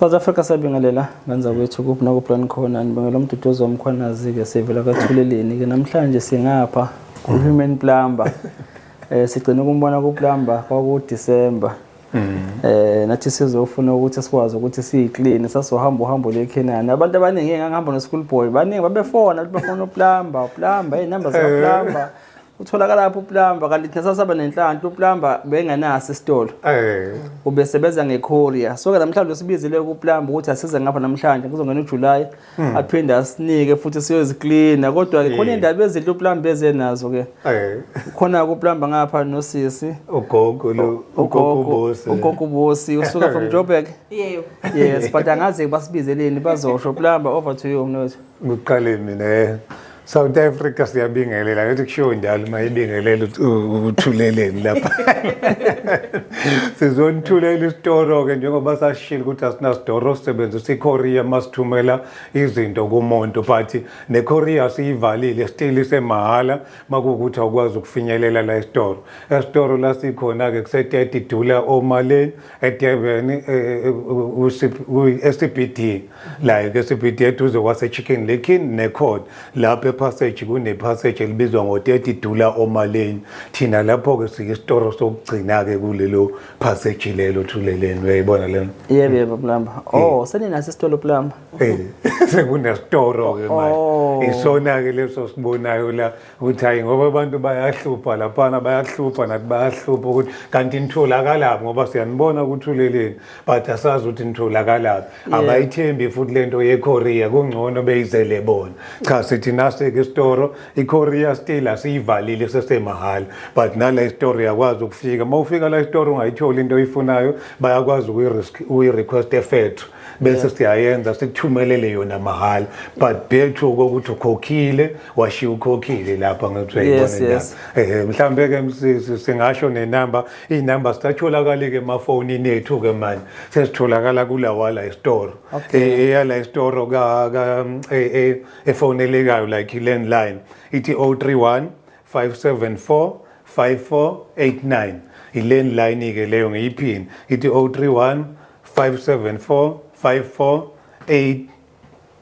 South Africa sabingelela ngenza kwethu kuphi nakuplan khona nibangela umduduzo womkhwanazi-ke sivela kathuleleni-ke namhlanje singapha ku-human plumber um sigcine ukumbona kuplumber kwakudisemba eh nathi sizofuna ukuthi sikwazi ukuthi siyiclean sasohamba uhambo lekhenani abantu abaningi engangihamba no-school boy baningi babefona ukuthi bafona uplumber uplumber hey number zaplumber Utholakala lapho uplumber kanti thina sasaba nenhlanhla uplumber bengenaso isitolo. Eh. Ubesebenza ngecourier. So ke namhlanje usibizile ukuplumber ukuthi asize ngapha namhlanje kuzongena uJuly hmm. aphinde asinike futhi siyoziklina kodwa ke khona indaba ezinhle uplumber ezenazo ke. Eh. Khona ukuplumber ngapha nosisi. Ugogo lo ugogo bosi. Ugogo bosi usuka from Joburg. Yebo. Yes but angazi basibizeleni bazosho plumber over to you mnotho. Ngiqale mina eh, South Africa siyabingelela ngathi kushiwo njalo uma ibingelela uthuleleni lapha sizonithulela isitoro-ke njengoba sashilo ukuthi asinasitoro sisebenzisa ikorea uma sithumela izinto kumuntu but nekorea siyivalile still isemahhala uma kuwukuthi awukwazi ukufinyelela la esitoro esitoro la sikhona-ke kuse-30 dula omaleni eDurban eh, eh, eh, ku-SCBD like SCBD eduze kwase-Chicken Lake neCourt lapho epassage kunepassage elibizwa ngo-30 dula omaleni thina lapho-ke siyisitoro sokugcina-ke kulelo passage lelo thuleleni uyayibona lena yebo yebo plumber oh seninaso isitolo plumber sekunesitoro-ke manje oh. isona-ke leso sibonayo la ukuthi hayi ngoba abantu bayahlupha laphana bayahlupha nathi bayahlupha ukuthi kanti nitholakalaphi ngoba siyanibona ukuthi uleleni but asazi ukuthi nitholakalaphi abayithembi futhi le nto yekorea kungcono beyizele bona cha sithi naseke isitoro ikorea still asiyivalile sesemahhala but nala isitoro yakwazi ukufika uma ufika la isitoro ungayitholi into oyifunayo bayakwazi ukuyi-request efethu bese siyayenza sikuthumelele yona mahhala but bethu kokuthi ukhokhile washiya ukhokhile lapha ngithiwa yes, yes. eh mhlambe ke msisi singasho nenamba inamba sithatholakala ke emafoni nethu ke manje sesitholakala kulawa la store okay. Eh, eya la store ka ka eh, eh, efonelekayo like landline ithi 031 574 5489 ilandline ke leyo ngiyiphini ithi 031 574 5489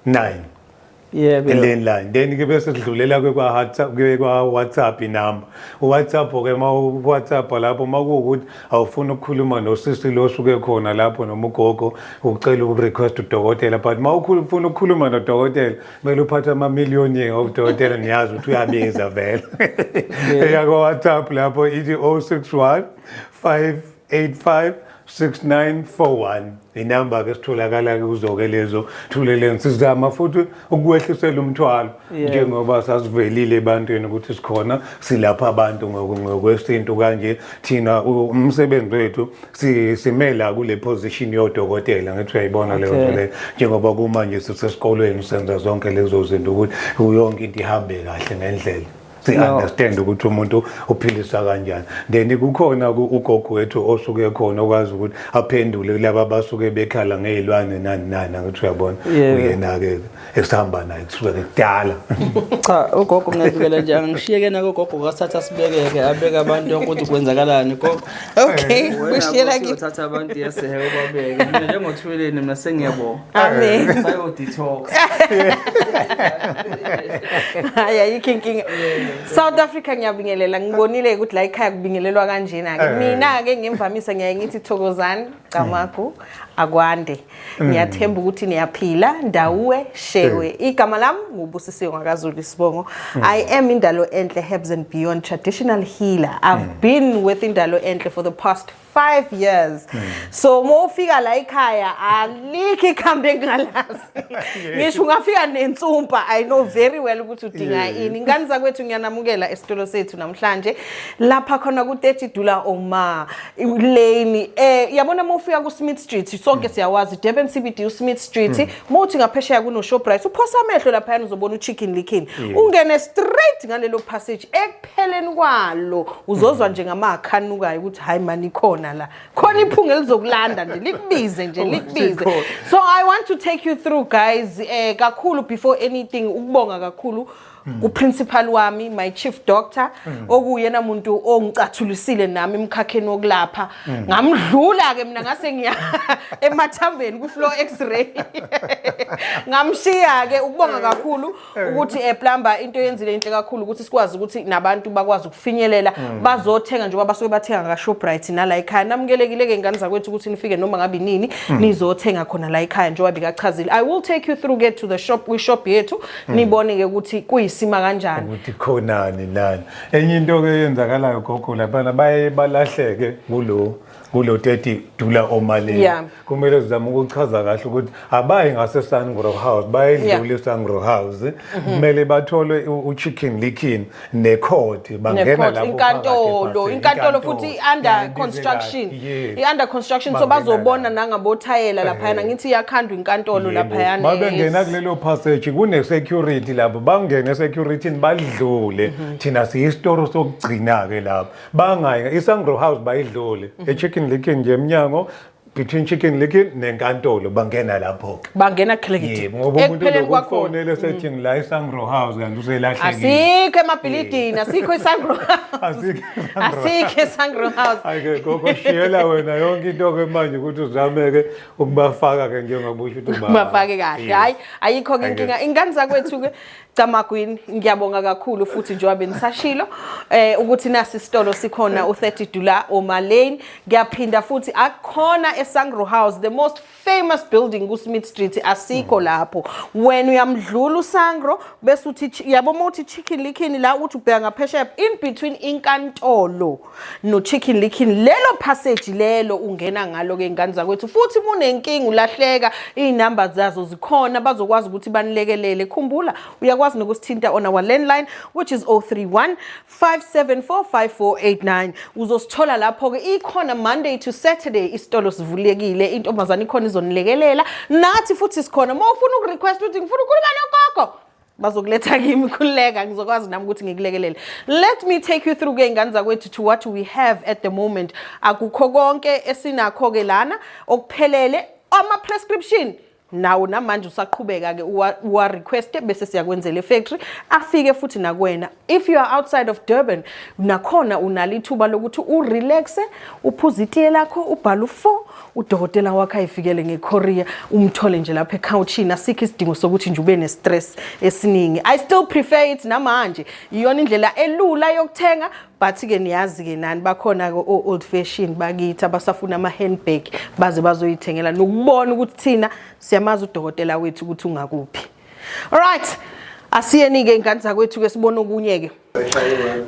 nine yebo eleni line then ke bese sidlulela ke kwa WhatsApp ke kwa WhatsApp inamba uWhatsApp ke ma uWhatsApp lapho makuwukuthi awufuna ukukhuluma nosisi lo suke khona lapho noma ugogo ucela ukurequest udokotela but ma ufuna ukukhuluma nodokotela kumele uphathe ama million yenge udokotela niyazi ukuthi uyabiza vele eya kwa WhatsApp lapho ithi 061 5 856941 inamba ke sitholakala ke kuzoke lezo thuleleni sizama futhi ukuwehlisela umthwalo njengoba sasivelile ebantwini ukuthi sikhona silapha abantu ngokwesintu kanje thina umsebenzi wethu simela kule position yodokotela ngithi uyayibona leyo nto leyo njengoba kumanje sisesikolweni senza zonke lezo zinto ukuthi yonke into ihambe kahle ngendlela si-understand ukuthi umuntu uphilisa kanjani then kukhona ugogo wethu osuke ekhona okwazi ukuthi aphendule kulaba abasuke bekhala ngey'lwane nani nani angithi uyabona uyena-ke esihamba naye kusuke kudala cha ugogo ngiyavikela nje angishiyeke nako ugogo kasithatha sibekeke abeke abantu yonke ukuthi kwenzakalani gogo okay eh, ushiyela kithatha abantu yesehe ubabeke mina njengothuleleni mina sengiyabonga Amen. Sayo detox. Hayi ayikho inkinga. South Africa ngiyabingelela ngibonile ukuthi la ekhaya kubingelelwa kanjena ke. Eh. Mina ke ngimvamisa ngiyaye ngithi thokozani gamagu akwande. Mm. Ngiyathemba ukuthi niyaphila ndawuwe shewe. Eh. Igama lami ngubusisiwe ngakaZulu isibongo. Mm. I am indalo enhle herbs and beyond traditional healer. I've mm. been with indalo enhle for the past five years mm. so uma ufika la ekhaya alikho ikhambi engingalazi ngisho ungafika nensumpa i know very well ukuthi udinga ini ngani zakwethu ngiyanamukela esitolo sethu namhlanje lapha khona ku-30 dula oma lane eh yabona uma ufika ku-smith street sonke mm. siyawazi durban cbd usmith street mm. uma uthi ngaphesheya kunoshoprite uphosa amehlo laphayana uzobona uchicken likin ungene straight ngalelo passage ekupheleni kwalo uzozwa nje ngamakha anukayo ukuthi hayi mani ikhona la khona iphunga elizokulanda nje likubize nje likubize so i want to take you through guys eh kakhulu before anything ukubonga kakhulu kuprincipal wami my chief doctor okuyena muntu ongicathulisile nami emkhakheni wokulapha ngamdlula ke mina ngase ngiya emathambeni ku floor x-ray ngamshiya ke ukubonga kakhulu ukuthi eh plumber into yenzile inhle kakhulu ukuthi sikwazi ukuthi nabantu bakwazi ukufinyelela mm. bazothenga njengoba basuke bathenga ka Shoprite nala ekhaya namukelekile ke ngane zakwethu ukuthi nifike noma ngabe nini mm. nizothenga khona la ekhaya njengoba bikachazile i will take you through get to the shop we shop yethu mm. nibone ke ukuthi kuyisima kanjani ukuthi khonani nani enye into ke yenzakalayo gogo labana baye balahleke kulo kulo 30 dula omalini yeah. kumele sizame ukuchaza kahle ukuthi abayi ngase Sangro House bayedlule yeah. Sangro House mhm. kumele bathole u chicken licking ne court bangena lapho inkantolo inkantolo futhi under construction i under construction so bazobona nangabo thayela lapha yana eh. ngithi yakhandwa inkantolo lapha yana mabengena kulelo passage kune security lapho bangene security badlule mhm. thina siyi store sokugcina ke lapho bangayi isangro house bayidlule mhm. echicken likin nje emnyango between chicken likin nenkantolo bangena lapho ke bangena khelekithi ngoba umuntu lokufonela mhm. sethi ngila isangro house kanti uselahlekile asikho emabhilidini asikho isangro house asikho isangro house ayike gogo shiyela wena yonke into ke manje ukuthi uzameke ukubafaka ke njengoba usho ukuthi ubafake kahle hayi ayikho ke inkinga ingane zakwethu ke Camagwini ngiyabonga kakhulu futhi njengoba benisashilo eh ukuthi nasi isitolo sikhona u30 Dula Oma Lane ngiyaphinda futhi akukhona eSangro House the most famous building ku Smith Street asikho hmm. lapho wena uyamdlula uSangro bese uthi yabo uma uthi chicken likhini la uthi ubheka ngaphesheya in between inkantolo no-chicken licking lelo passage lelo ungena ngalo-ke ingane zakwethu futhi munenkinga ulahleka iy'namba zazo zikhona bazokwazi ukuthi banilekelele khumbula uyakwazi nokusithinta on our landline which is 031 5745489 uzosithola lapho-ke ikhona monday to saturday isitolo sivulekile intombazane ikhona izonilekelela nathi futhi sikhona uma ufuna ukurequest ukuthi ngifuna ukhuluma nogogo bazokuletha kimi khululeka ngizokwazi nami ukuthi ngikulekelele let me take you through ke ingane zakwethu to what we have at the moment akukho konke esinakho ke lana okuphelele ama prescription nawo namanje usaqhubeka ke uwa request bese siyakwenzela efactory afike futhi nakwena if you are outside of Durban nakhona unalo ithuba lokuthi urelaxe uphuze itiye lakho ubhale u-four udokotela wakho ayifikele ngekorea umthole nje lapha ekhawushini asikho isidingo sokuthi nje ube ne-stress esiningi i still prefer it namanje iyona indlela elula yokuthenga but-ke niyazi-ke nani bakhona-ke o-old fashion bakithi abasafuna ama-handbag baze bazoyithengela nokubona ukuthi thina siyamazi udokotela wethu ukuthi ungakuphi Alright. Asiyeni ke ingane zakwethu ke sibona okunye ke.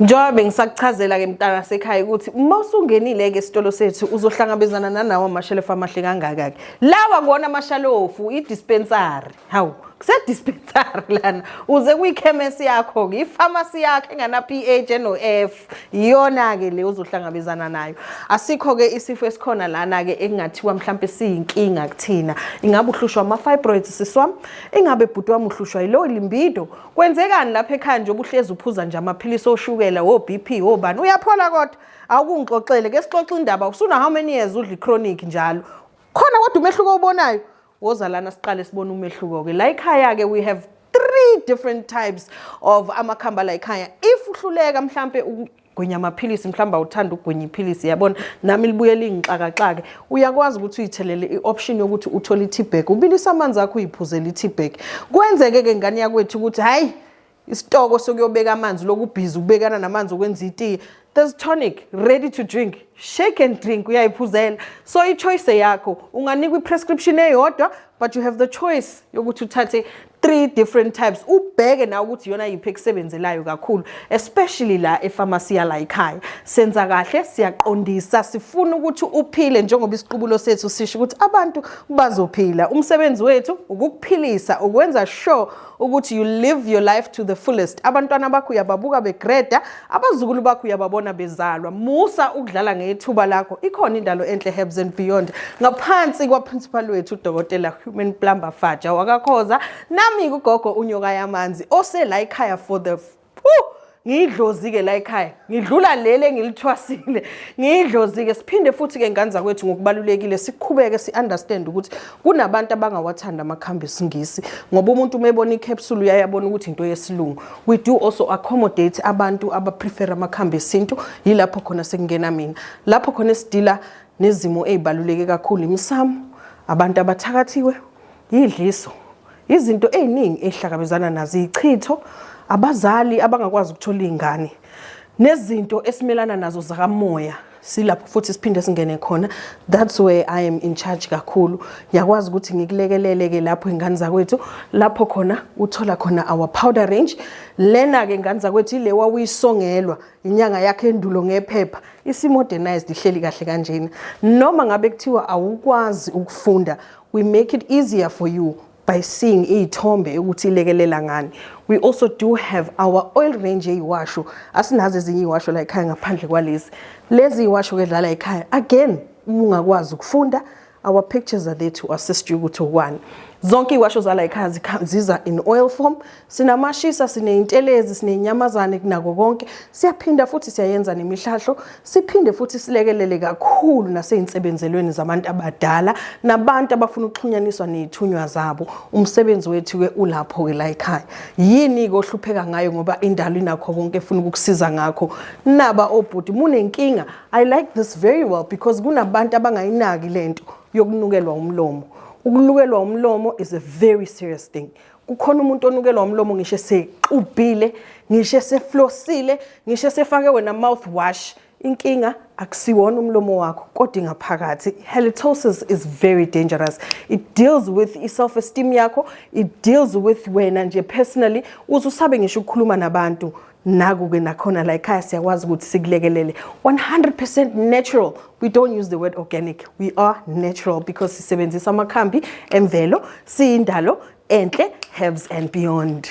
Njengoba bengisakuchazela ke mntana sekhaya ukuthi uma usungenile ke esitolo sethu uzohlangabezana nanawo amashelefu amahle kangaka ke. Lawa kuona amashalofu i dispensary. Hawu, kuse dispensary lana. Uze kuyikhemesi yakho ke, i pharmacy yakhe engana PH no F. iyona-ke le uzohlangabezana nayo asikho-ke isifo esikhona lana-ke ekungathiwa mhlawumpe siyinkinga kuthina ingabe uhlushwa ama-fibroids sisi wami ingabe bhuti wami uhlushwa yilowo limbido kwenzekani lapha ekhaya nje obuhlezi uphuza nje amaphilisi oshukela wo-b p wobani uyaphola kodwa awukungixoxele ke sixoxe indaba usuna how many years udla i-chronic njalo khona kodwa umehluko owubonayo woza lana siqale sibone umehluko-ke la ikhaya-ke we have three different types of amakhamba la ikhaya if uhluleka mhlampe gwinya amaphilisi mhlawumbe awuthanda ukugwinya iphilisi yabona nami libuye lingixakaxake uyakwazi ukuthi uyithelele i-option yokuthi uthole i-tbag ubilisa amanzi akho uyiphuzele i-tbag kwenzeke-ke ngane yakwethu ukuthi hhayi isitoko sokuyobeka amanzi lokubhizi ukubekana namanzi okwenza itiye there's tonic ready to drink shake and drink uyayiphuzela so i-choice yakho unganikwa i-prescription eyodwa but you have the choice yokuthi uthathe three different types ubheke nawe ukuthi iyona yiphi ekusebenzelayo kakhulu especially la efamasi yala ekhaya senza kahle siyaqondisa sifuna ukuthi uphile njengoba isiqubulo sethu sisho ukuthi abantu bazophila umsebenzi wethu ukukuphilisa ukwenza sure ukuthi you live your life to the fullest abantwana bakho uyababuka begreda abazukulu bakho uyababona bezalwa musa ukudlala ngethuba lakho ikhona indalo enhle herbs and beyond ngaphansi kwaprincipal wethu udokotela human plumber faja wakakhoza nami kugogo unyoka yamanzi osela ikhaya for the ngiyidlozi-ke la ekhaya ngidlula leli engilithwasile ngiyidlozi-ke siphinde futhi-ke ngane zakwethu ngokubalulekile siqhubeke si-understand ukuthi kunabantu abangawathanda amakhambi esingisi ngoba umuntu uma ebona i-capsule uyaye abona ukuthi into yesilungu we do also accommodate abantu abaprefera amakhambi esintu yilapho khona sekungena mina lapho khona esidila nezimo ey'baluleke kakhulu imisamo abantu abathakathiwe Yidliso. Izinto eziningi ezihlakabezana nazo ichitho abazali abangakwazi ukuthola izingane nezinto esimelana nazo zakamoya silapho futhi siphinde singene khona that's where i am in charge kakhulu ngiyakwazi ukuthi ngikulekelele ke lapho ingane zakwethu lapho khona uthola khona our powder range lena ke ingane zakwethu ile wawuyisongelwa inyanga yakhe endulo ngephepha isimodernized ihleli kahle kanjena noma ngabe kuthiwa awukwazi ukufunda We make it easier for you by seeing iy'thombe ukuthi ilekelela ngani we also do have our oil range yeyiwasho asinazo ezinye iyiwasho la ekhaya ngaphandle kwalezi lezi yiwasho ke dlala ekhaya again ungakwazi ukufunda our pictures are there to assist you ukuthi ukwani zonke iwasho zala ekhaya ziza in oil form Sinamashisa, sineyintelezi, sinenyamazane kunako konke. Siyaphinda futhi siyayenza nemihlahlo, siphinde futhi silekelele kakhulu naseyinsebenzelweni zabantu abadala nabantu abafuna ukuxhunyaniswa nezithunywa zabo. Umsebenzi wethu ke ulapho ke la ekhaya. Yini ke ohlupheka ngayo ngoba indalo inakho konke efuna ukukusiza ngakho. Naba obhuti munenkinga. I like this very well because kunabantu abangayinaki lento yokunukelwa umlomo. Ukulukelwa umlomo is a very serious thing. kukhona umuntu onukelwa umlomo ngisho esexubhile ngisho eseflosile ngisho esefake wena mouth wash inkinga akusiwona umlomo wakho kodwa ingaphakathi halitosis is very dangerous it deals with i-self esteem yakho it deals with wena nje personally uze usabe ngisho ukukhuluma nabantu naku-ke nakhona la ekhaya siyakwazi ukuthi sikulekelele 100% natural we don't use the word organic we are natural because sisebenzisa amakhambi emvelo siyindalo enhle herbs and beyond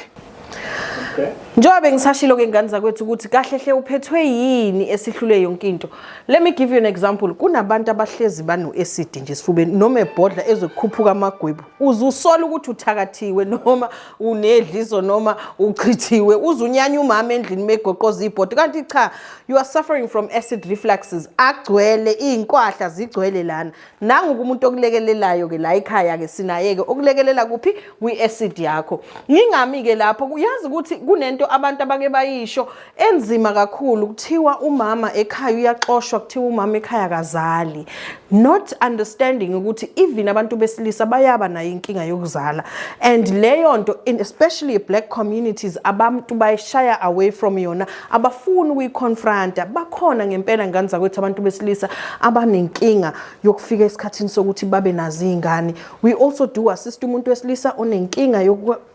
okay. njengoba bengisashilo ke ngane zakwethu ukuthi kahle hle uphethwe yini esihlule yonke into let me give you an example kunabantu abahlezi bano-acid nje esifubeni noma ebhodla ezokukhuphuka amagwebu uze usola ukuthi uthakathiwe noma unedliso noma uchithiwe uzunyanya umama endlini megoqoza ibhodi kanti cha you are suffering from acid refluxes agcwele iy'nkwahla zigcwele lana nanguke umuntu okulekelelayo-ke la ekhaya-ke sinayeke okulekelela kuphi kwi-acid yakho ngingami-ke lapho kuyazi ukuthi kunento abantu abake bayisho enzima kakhulu kuthiwa umama ekhaya uyaxoshwa kuthiwa umama ekhaya kazali not understanding ukuthi even abantu besilisa bayaba nayo inkinga yokuzala and leyo nto especially black communities abantu bayishaya away from yona abafuni ukuyiconfronta bakhona ngempela ngane zakwethu abantu besilisa abanenkinga yokufika esikhathini sokuthi babe nazo iy'ngane we also do assist umuntu wesilisa onenkinga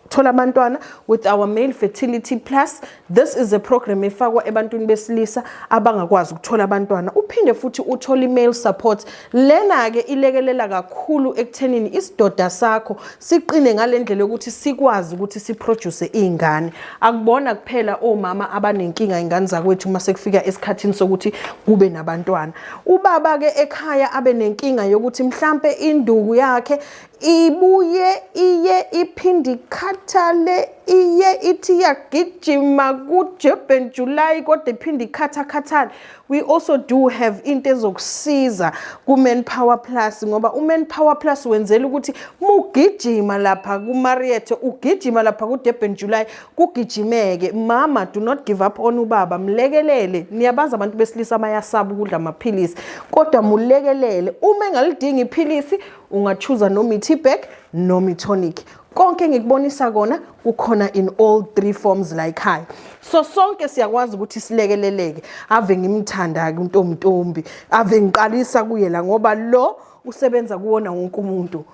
thola abantwana with our male fertility plus this is a program efakwa ebantwini besilisa abangakwazi ukuthola abantwana uphinde futhi uthole i-male support lena-ke ilekelela kakhulu ekuthenini isidoda sakho siqine ngale ndlela yokuthi sikwazi ukuthi siproduce iy'ngane akubona kuphela omama abanenkinga iy'ngane zakwethu uma sekufika esikhathini sokuthi kube nabantwana ubaba-ke ekhaya abe nenkinga yokuthi mhlampe induku yakhe ibuye iye iphinde ikhathale iye ithi iyagijima kujeben july kodwa iphinde ikhathakhathale we also do have into ezokusiza ku-man power plus ngoba u-man power plus wenzela ukuthi mugijima lapha kumariethe ugijima lapha kudurban july kugijimeke mama do not give up on ubaba mlekelele niyabazi abantu besilisa bayasaba ukudla amaphilisi kodwa mulekelele uma engalidingi iphilisi ungachuza noma i-tbag noma i-tonic konke engikubonisa kona kukhona in all three forms la ekhaya so sonke siyakwazi ukuthi silekeleleke ave ngimthanda-ke untomntombi ave ngiqalisa kuye la ngoba lo usebenza kuwona wonke umuntu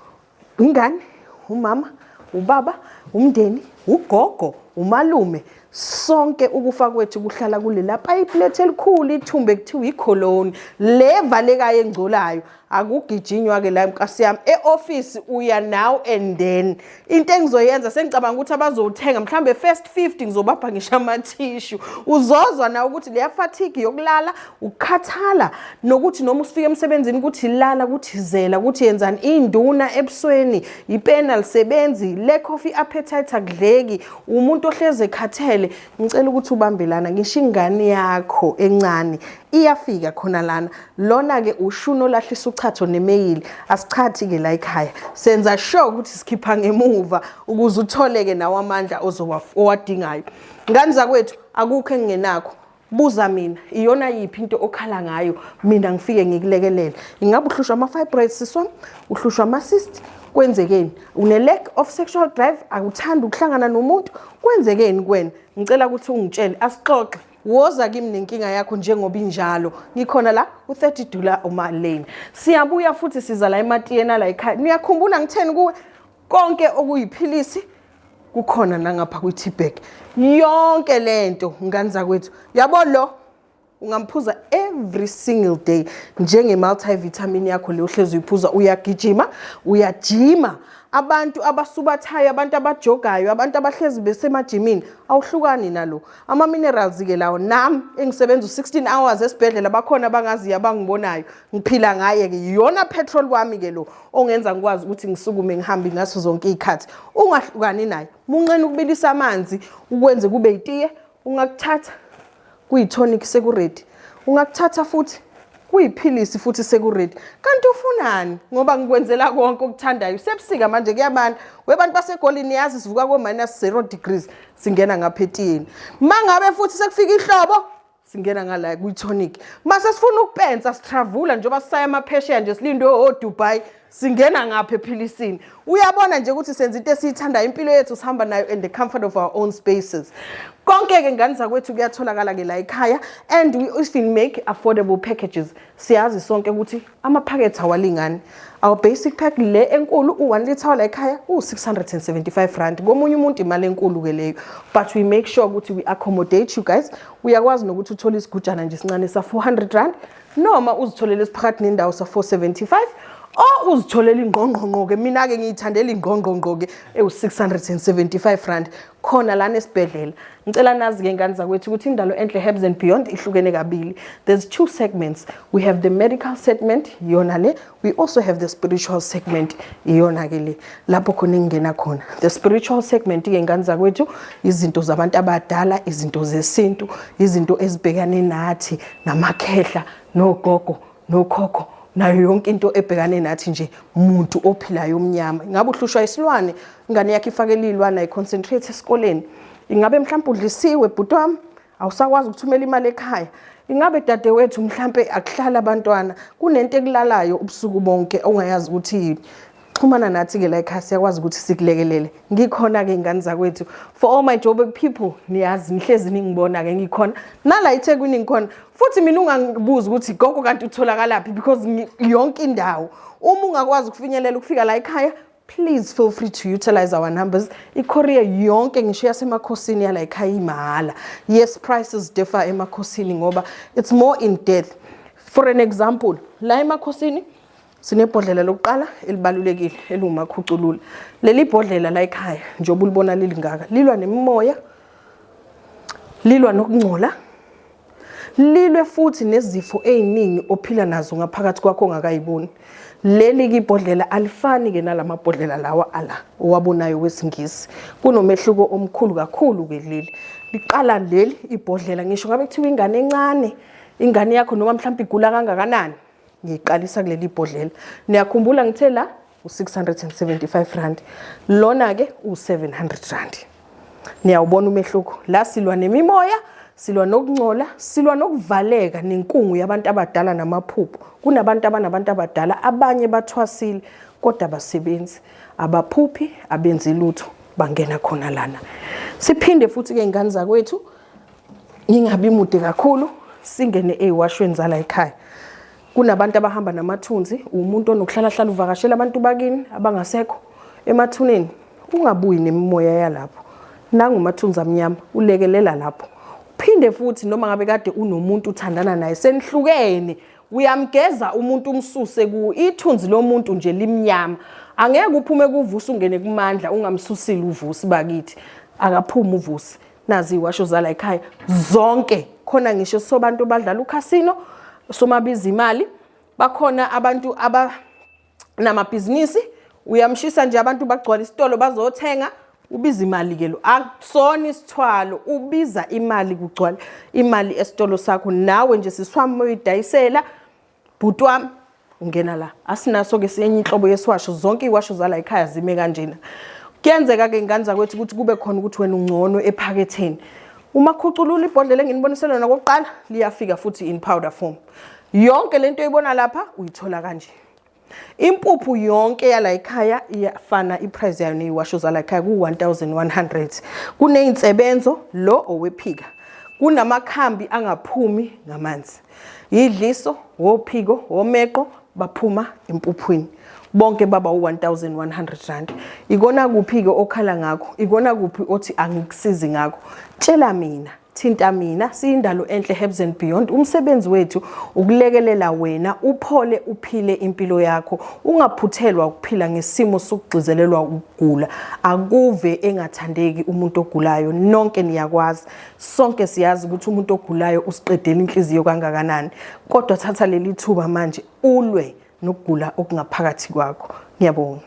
ingane umama ubaba umndeni ugogo umalume sonke ukufa kwethu kuhlala kulela payipi lethu elikhulu ithumbe kuthiwa ikholoni le valekayo engcolayo akugijinywa-ke la nkasi yami e-ofisi uya now and then into engizoyenza sengicabanga ukuthi abazowuthenga mhlawumbe first 50 ngizobapha ngisho amathishu uzozwa na ukuthi leya fatigue yokulala ukukhathala nokuthi noma usifika emsebenzini ukuthi lala ukuthi zela ukuthi yenzani induna ebusweni ipena lisebenzi lack of i-appetite akudleki umuntu ohleze ekhathele ngicela ukuthi ubambe lana ngisho ingane yakho encane iyafika khona lana lona ke ushuni olahlisa uchatho nemeyili asichathi ke la ekhaya senza sure ukuthi sikhipha ngemuva ukuze utholeke nawo amandla ozowadingayo ngani zakwethu akukho engingenakho buza mina iyona yiphi into okhala ngayo mina ngifike ngikulekelele ingabe uhlushwa ama-fibroids siswam uhlushwa ama-cyst kwenzekeni une-lack of sexual drive akuthandi ukuhlangana nomuntu kwenzekeni kwena ngicela ukuthi ungitshele asixoxe woza kimi nenkinga yakho njengoba injalo ngikhona la u-30 dollar umalane siyabuya futhi siza la ematiyena la ekhaya niyakhumbula ngitheni kuwe konke okuyiphilisi kukhona nangapha kwi-tbag yonke le nto ngane zakwethu yabo lo ungamphuza every single day njenge-multivitamin yakho le uhlezi uyiphuza uyagijima uyajima abantu abasubathayo abantu abajogayo abantu abahlezi besemajimini awuhlukani nalo ama-minerals-ke lawo nam engisebenza u-16 hours esibhedlela bakhona abangaziyo abangibonayo ngiphila ngaye ke yiyona petrol wami ke lo ongenza ngikwazi ukuthi ngisukume ngihambe ngaso zonke izikhathi ungahlukani naye munqena ukubilisa amanzi ukwenze kube itiye ungakuthatha kuyitonic sekuredi ungakuthatha futhi kuyiphilisi futhi sekuredi kanti ufunani ngoba ngikwenzela konke okuthandayo sebusika manje kuyabanda webantu basegolini yazi sivuka ko-minus zero degrees singena ngapha etiyeni ma ngabe futhi sekufika ihlobo singena ngala kwi-tonic mase sifuna ukupensa sitravula njengoba sisaya amaphesheya nje silinde odubai singena ngapha ephilisini uyabona nje ukuthi senza into esiyithandayo impilo yethu sihamba nayo in the comfort of our own spaces konke-ke ngane zakwethu kuyatholakala-ke la ekhaya and we even make affordable packages siyazi sonke ukuthi amaphakethe awalingani our basic pack le enkulu u-1 litre wala ekhaya u-675 rand komunye umuntu imali enkulu-ke leyo but we make sure ukuthi we accommodate you guys uyakwazi nokuthi uthole isigujana nje sincane sa-400 rand noma uzitholele esiphakathi nendawo sa-475 o uzitholela ingqongqongqo-ke mina-ke ngiyithandela ingqongqongqo-ke ewu-675 rand khona lana esibhedlela ngicela nazi-ke ngane zakwethu ukuthi indalo enhle herbs and beyond ihlukene kabili there's two segments we have the medical segment iyona le we also have the spiritual segment iyona-ke le lapho khona engingena khona the spiritual segment-ke ngane zakwethu izinto zabantu abadala izinto zesintu izinto ezibhekane nathi namakhehla nogogo nokhokho nayo yonke into ebhekane nathi nje muntu ophilayo omnyama ingabe uhlushwa isilwane ingane yakhe ifakele iy'lwane ayiconcentrate esikoleni ingabe mhlawumpe udlisiwe bhuti wami awusakwazi ukuthumela imali ekhaya ingabe dadewethu mhlampe akuhlala abantwana kunento ekulalayo ubusuku bonke ongayazi ukuthi yini xhumana nathi-ke la ekhaya siyakwazi ukuthi sikulekelele ngikhona-ke ingane zakwethu for all my joburg people niyazi nihlezi ningibona-ke ngikhona nala ithekwini ngikhona futhi mina ungangibuzi ukuthi gogo kanti utholakalaphi because yonke indawo uma ungakwazi ukufinyelela ukufika la ekhaya please feel free to utilize our numbers ikorea yonke ngisho yasemakhosini yala ekhaya imahhala yes prices differ emakhosini ngoba it's more in depth for an example la emakhosini Sinebhodlela lokuqala elibalulekile eliwumakhuculula. Leli bhodlela la ekhaya njengoba ulibona lilingaka lilwa nemimoya lilwa nokungcola lilwe futhi nezifo eziningi ophila nazo ngaphakathi kwakho ongakayiboni leli kibhodlela alifani ke nalamabhodlela lawa ala owabonayo wesingisi kunomehluko omkhulu kakhulu ke leli liqala leli ibhodlela ngisho ngabe kuthiwa ingane encane ingane yakho noma mhlawumbe igula kangakanani ngiyiqalisa kuleli bhodlela niyakhumbula ngithe la u-675 rand lona-ke u-700 rand niyawubona umehluko la silwa nemimoya silwa nokungcola silwa nokuvaleka nenkungu yabantu abadala namaphupho kunabantu abanabantu abadala abanye bathwasile kodwa abasebenzi abaphuphi abenzi lutho bangena khona lana siphinde futhi-ke ingane zakwethu ngingabi mude kakhulu singene eyiwashweni zala ekhaya kunabantu abahamba namathunzi umuntu onokuhlalahlala uvakashela abantu bakini abangasekho emathuneni ungabuyi nemimoya yalapho nangumathunzi amnyama ulekelela lapho phinde futhi noma ngabe kade unomuntu uthandana naye senihlukene uyamgeza umuntu umsuse ku ithunzi lomuntu nje limnyama angeke uphume kuvusa ungene kumandla ungamsusile uvusi bakithi akaphume uvusi nazi iwasho zala ekhaya zonke khona ngisho sobantu badlala ucasino somabiza imali bakhona abantu aba namabhizinisi uyamshisa nje abantu bagcwala isitolo bazothenga ubiza imali ke lo akusona isithwalo ubiza imali kugcwala imali esitolo sakho nawe nje siswami uyidayisela bhuti wami ungena la asinaso-ke siyenye inhlobo yesiwasho zonke iy'washo zala ekhaya zime kanjena kuyenzeka-ke ngane zakwethu ukuthi kube khona ukuthi wena ungcono ephaketheni uma khuculula ibhodlela enginibonise lona kokuqala liyafika futhi in powder form yonke lento oyibona lapha uyithola kanje impuphu yonke yala ekhaya iyafana iprice yayo neyiwasho zala ekhaya ku-1100 kuneyinsebenzo lo owephika kunamakhambi angaphumi ngamanzi yidliso wophiko womeqo baphuma empuphwini bonke baba u1100 rand ikona kuphi ke okhala ngakho ikona kuphi othi angikusizi ngakho tshela mina thinta mina siyindalo enhle herbs and beyond umsebenzi wethu ukulekelela wena uphole uphile impilo yakho ungaphuthelwa ukuphila ngesimo sokugcizelelwa ukugula akuve engathandeki umuntu ogulayo nonke niyakwazi Sonke siyazi ukuthi umuntu ogulayo usiqedela inhliziyo kangakanani, kodwa thatha leli thuba manje ulwe nokugula okungaphakathi kwakho. Ngiyabonga.